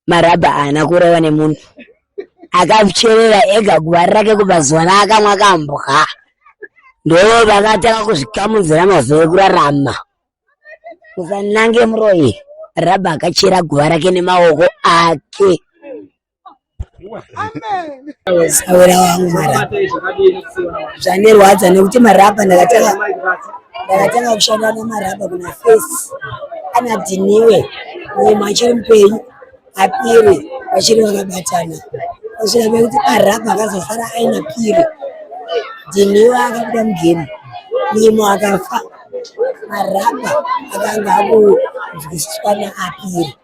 marabha haana kuroyiwa nemunhu akazvicherera ega guva rake kubva zuva raakamwa kambwa ndo vakatanga kuzvikamudzira mazuva ekurarama usanange muroyi rabha akachera guva rake nemaoko ake Sawira wangu marapa zvanirwadza nekuti marapa ndakatanga ndakatanga kushanda nemarapa kuna face ana dhiniwe mumwe achiri mupenyu apiri vachiri vakabatana kusvika pekuti marapa akazosara aina piri dhiniwe akabuda mugemu mimo akafa marapa akanga akunzwisiswa neapiri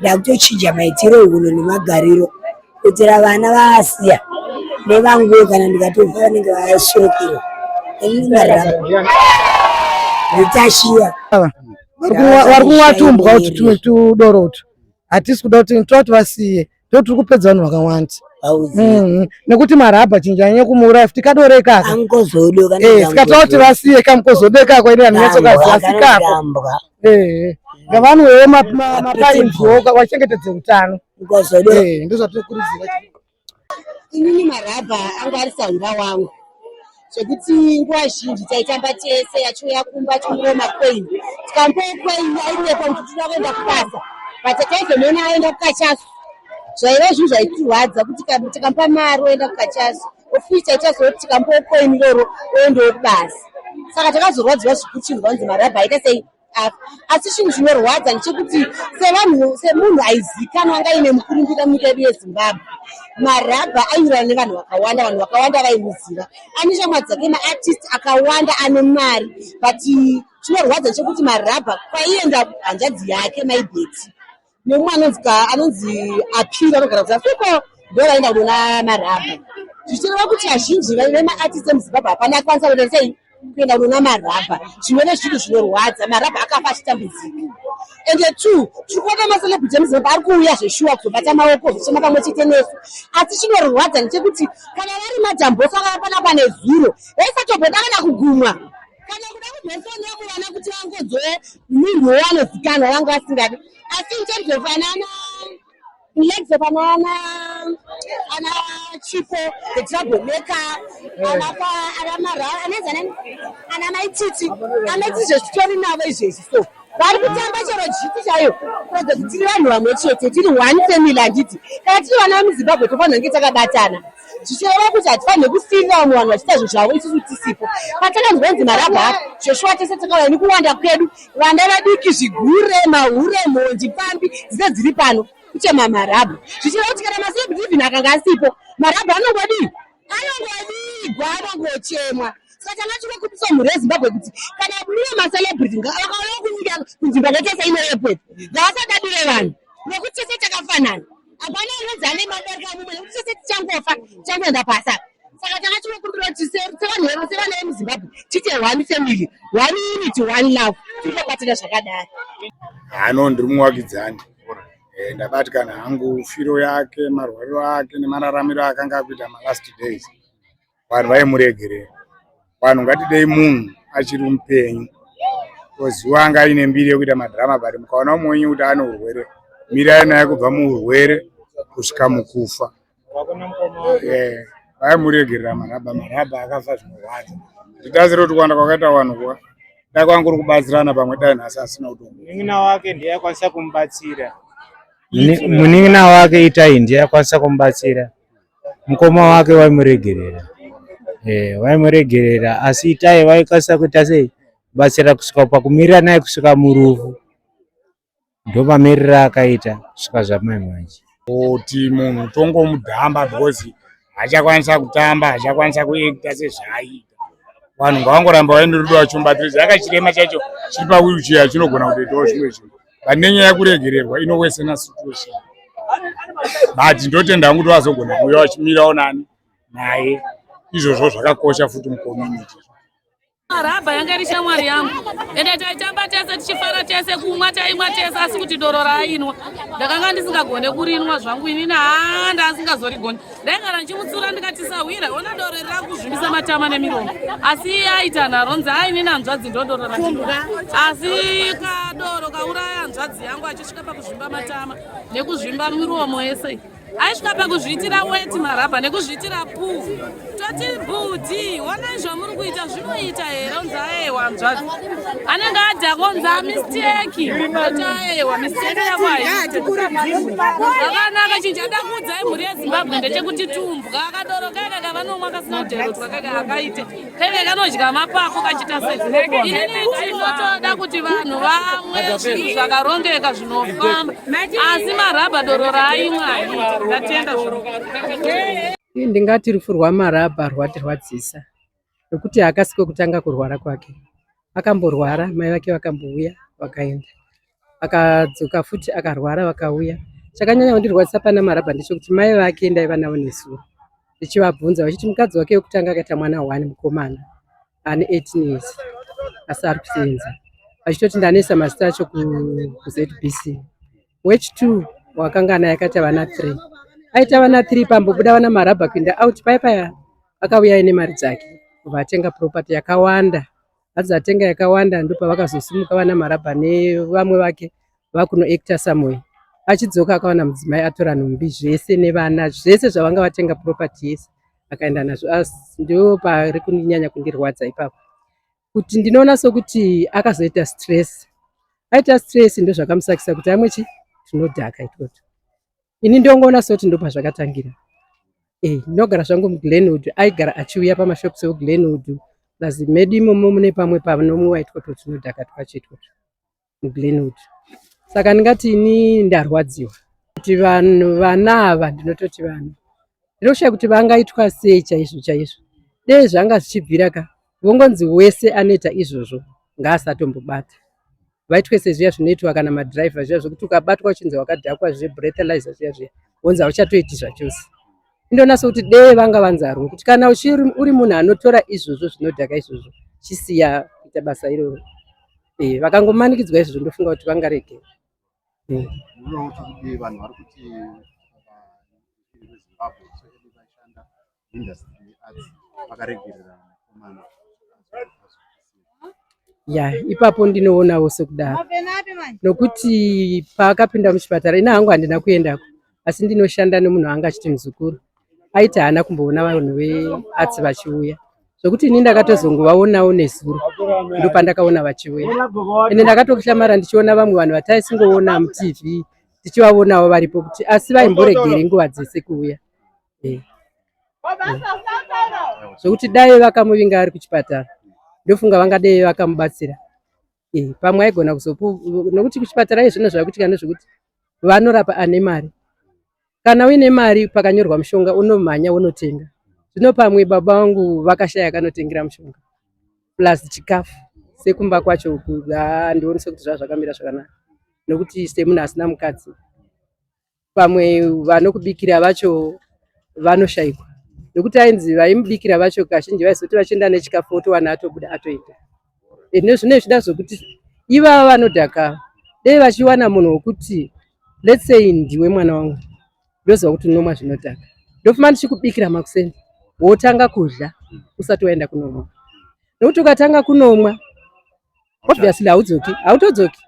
ndakutochinja maitiro ehono nemagariro kuitira vana vaasiya nevanguwe kana ndikatovha vanenge vasurukirwa nditashiya vari kunwatumbwa uti tumwe tudoro utu hatisi kuda kuti tovati vasiye ndo tiri kupedza vanhu vakawanda mm-hmm. nekuti marabha chinji anyanya kumuuraya futi kadore ikaka eh, sikatawa kuti vasiye kamukozodekako ini anonyatsokaziva sikako eh ngavanwewo mapainziwo vachengetedze utano eh, ndozvatinokurudzira inini marabha anga ari saura wangu zvekuti nguva zhinji taitamba tese achiuya kumba achimuwo makwain tikambowo kwain airepa kuti tira kuenda kubasa but taizomuona aenda kukachaso zvaiva zvinhu zvaitirwadza kuti tikamupa mari oenda kukachaso of which aichazoti tikambowo coin iroro oendawo kubasa saka takazorwadziwa zvikuchinzwa kunzi mari abva aita sei apa asi chinhu chinorwadza ndechekuti sevanhu semunhu aizikanwa anga ine mukurumbira munyika yedu yezimbabwe marabha aiurana nevanhu vakawanda vanhu vakawanda vaimuziva ane shamwa dzake maartist akawanda ane mari but chinorwadza chekuti marabha kwaienda hanzvadzi yake maibeti Neumwe anonzi ka anonzi apira anogara kuti asiko ndiwo vaenda kunoona marabha zvichireva kuti vazhinji vemaartist emuzimbabwe hapana akwanisa kuita sei kuenda kunoona marabha zvinove zvinhu zvinorwadza marabha akafa achitambudzika and two tiri kuona macelebrity emuzimbabwe ari kuuya zveshuwa kuzobata maoko zvichema pamwe chete nesu asi chinorwadza ndechekuti kana vari madambosa vaya panapa nezuro vaisatombodakana kugumwa kana kuda kuzosonea kuvana kuti vangodzwe munhu wanozikanwa vanga vasingadi asi in terms of anana legs of anana ana chipo the trouble maker eh. anapa ana mara anezana ana maititi anoti izvo zvitori navo izvezvi so vari kutamba chero jiti chaiyo kuratidza kuti tiri vanhu vamwe chete tiri one family handiti kana tiri vana vemuzimbabwe tofanira kunge takabatana zvichireva kuti hatifanire kusiirira vamwe vanhu vachiita zvinhu zvavo isusu tisipo patakanzwa kunzi marabha apo zveshuwa tese takauya nekuwanda kwedu vana vadiki zvigure mahure mhondi pambi dzine dziri pano kuchema marabha zvichireva kuti kana masebrivin akanga asipo marabha anongodii anongovigwa anongochemwa saka tanga tiri kubisa mhuri yezimbabwe kuti kana mune macelebrity vakauya kunyika kunzvimbo yakaita sainoyepo ngavasatadire vanhu nekuti tese takafanana hapana anonzi ane mabereka mumwe nekuti tese tichangofa tichangoenda pasa saka tanga tinokumbira kuti sevanhu vedu sevana vemuzimbabwe tiite one family one unity one love tinobatira zvakadai hano ndiri muwakidzani eh, ndabatikana hangu firo yake marwariro ake nemararamiro akanga akuita malast days vanhu vaimuregerera vanhu ngatidei munhu achiri mupenyu koziwa anga aine mbiri yekuita madhirama but mukaona umwe wenyu kuti ane urwere mirai naye kubva muurwere kusvika mukufa eh, vaimuregerera maraba maraba akafa zvinorwadza nditaziro kuti kuwanda kwakaita vanhu kuwa dai kwanga kuri kubatsirana pamwe dai nhasi asina kutomu munin'ina wake ndiye akwanisa kumubatsira munin'ina wake itai ndiye akwanisa kumubatsira mukoma wake vaimuregerera eh, vaimuregerera asi itai vaikasira kuita sei batsira kusvika pakumirira naye kusvika murufu ndomamirira akaita kusvika zvamai manje kuti munhu tongomudhamba because achakwanisa kutamba achakwanisa kuita sezvaaita vanhu ngavangoramba vaine rudo vachombatirisa akachirema chacho chiri pawilchair chinogona kutoitawo zvimwe zvinhu pane nyaya yekuregererwa inowesena situation but ndotenda hangu kuti vazogona kuuya vachimirawo nani naye izvozvo zvakakosha futi mucommunity Marabha yanga iri shamwari yangu ende taitamba tese tichifara tese kumwa taimwa tese asi kuti doro raainwa ndakanga ndisingagone kurinwa zvangu inini haa ndasingazorigoni ndaigara ndichimutsura ndikati sahwira ona doro riri rakuzvimbisa matama nemiromo asi iye aita nharonzi aine nanzvadzi ndodoro rakuda asi kadoro kauraya hanzvadzi yangu achisvika pakuzvimba matama nekuzvimba miromo yese aisvika pakuzviitira weti marabha nekuzviitira puu toti bhudhi onai zvamuri kuita Unoita here unzi aewa hanzvadzi anenge adya kunzi amisteki oti aewa misteki yako haitizvakanaka chinhu chada kuudza imhuri yezimbabwe ndechekuti tumbwa akadoro kaeka kavanomwa kasina kuderotwa kaeka akaite kaeka kanodya mapako kachita seinotoda kuti vanhu vamwe zvinhu zvakarongeka zvinofamba asi marabha doro raaimwa ndatenda ndingati rufu rwamarabha rwatirwadzisa nokuti haakasi kwekutanga kurwara kwake. Akamborwara mai vake vakambouya vakaenda, akadzoka futi akarwara vakauya. Chakanyanya kundirwadzisa pana Marabha ndechekuti mai vake ndaiva navo nezuro ndichivabvunza vachiti mukadzi wake wekutanga akaita mwana one mukomana ane 18 years asi ari kusenza vachitoti ndanesa mazita acho kuzbc Wech two wakangana yakaita vana three. Aita vana three pambobuda vana marabha kuinda out paya paya akauya ine mari dzake kubva atenga property yakawanda. Hanzi atenga yakawanda ndopavakazosimuka vana marabha nevamwe vake vakuno actor somewhere. Achidzoka akawana mudzimai atora nhumbi zvese nevana zvese zvavanga vatenga property yese akaenda nazvo. As ndipo pari kunyanya kundirwadza ipapo. kuti ndinoona sokuti akazoita stress aita stress ndozvakamusakisa kuti amwe chi tinodhaka itoto ini ndongoona soti ndopa zvakatangira eh, ndinogara zvangu muglenwood aigara achiuya pamashops euglenwood plus medu imomo mune pamwe panomuwa itoto tinodhaka twacho itoto Glenwood saka ndingati ini ndarwadziwa kuti vanhu vana ava ndinototi vanhu ndinoshaya kuti vangaitwa sei chaizvo chaizvo dei zvanga zvichibvira ka vongonzi wese anoita izvozvo ngaasatombobata vaitwe sezviya zvinoitwa kana madriver zviya zvekuti ukabatwa uchinzi wakadhakwa zve breathalyzer zviya zviya wonzi hauchatoiti zvachose ndonasa kuti dee vanga vanzarwo kuti kana uri munhu anotora izvozvo zvinodhaka izvozvo chisiya kuita basa iroro eh, vakangomanikidzwa izvozvo ndofunga kuti vangarege eh. ya ipapo ndinoonawo sekudaro nokuti paakapinda muchipatara ina hangu handina kuendako asi ndinoshanda nemunhu anga achiti muzukuru aiti haana kumboona vanhu veatsi vachiuya zvokuti ini ndakatozongovaonawo nezuro ndopandakaona vachiuya ende ndakatokuhlamara ndichiona vamwe vanhu vataisingoona mutv tichivaonawo varipo kuti asi vaimboregeri nguva dzese kuuya eh. zvokuti dai vakamuvinga ari kuchipatara ndofunga vangadei vakamubatsira eh, pamwe aigona kuzopu nokuti kuchipatara izvino zvakuitika ndezvekuti vanorapa ane mari kana uine mari pakanyorwa mushonga unomhanya unotenga zvino pamwe baba vangu vakashaya kanotengera mushonga plus chikafu sekumba kwacho handionise kuti zvazvakamira zvakanaka nokuti semunhu asina mukadzi pamwe vanokubikira vacho vanoshaikwa nekuti ainzi vaimubikira vacho kazhinji vaizoti vachienda nechikafu wotowana atobuda atoita ende zvino zvichida zvokuti ivava vanodhaka dei vachiwana munhu wokuti let's say ndiwe mwana wangu ndoziva kuti unomwa zvinodhaka ndofuma ndichikubikira makuseni wotanga kudya usati waenda kunomwa nokuti ukatanga kunomwa obviously haudzoki hautodzoki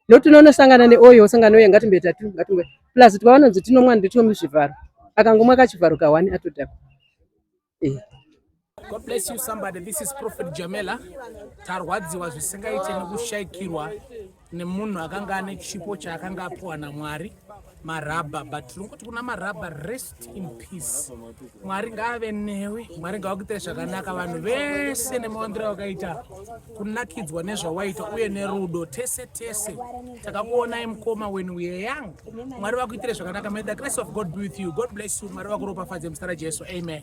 not unonosangana neoyo osangana oyo ngatimbe tatu ngatimbe plus twavanonzi tinomwa nditwo muzvivharo akangomwa kachivharo kahwani atodhakwa eh. God bless you somebody. This is Prophet Jamela. Tarwadziwa zvisingaite nekushaikirwa nemunhu akanga ane chipo chaakanga apuwa naMwari. marabha but tinongoti kuna marabha rest in peace mwari ngaave newe mwari ngawakuitire zvakanaka vanhu vese nemawandiro wakaita kunakidzwa nezvawaita uye nerudo tese tese takakuonai mukoma when we are young mwari vakuitire zvakanaka may the grace of god be with you god bless you mwari vakuropafadze muzita rajesu amen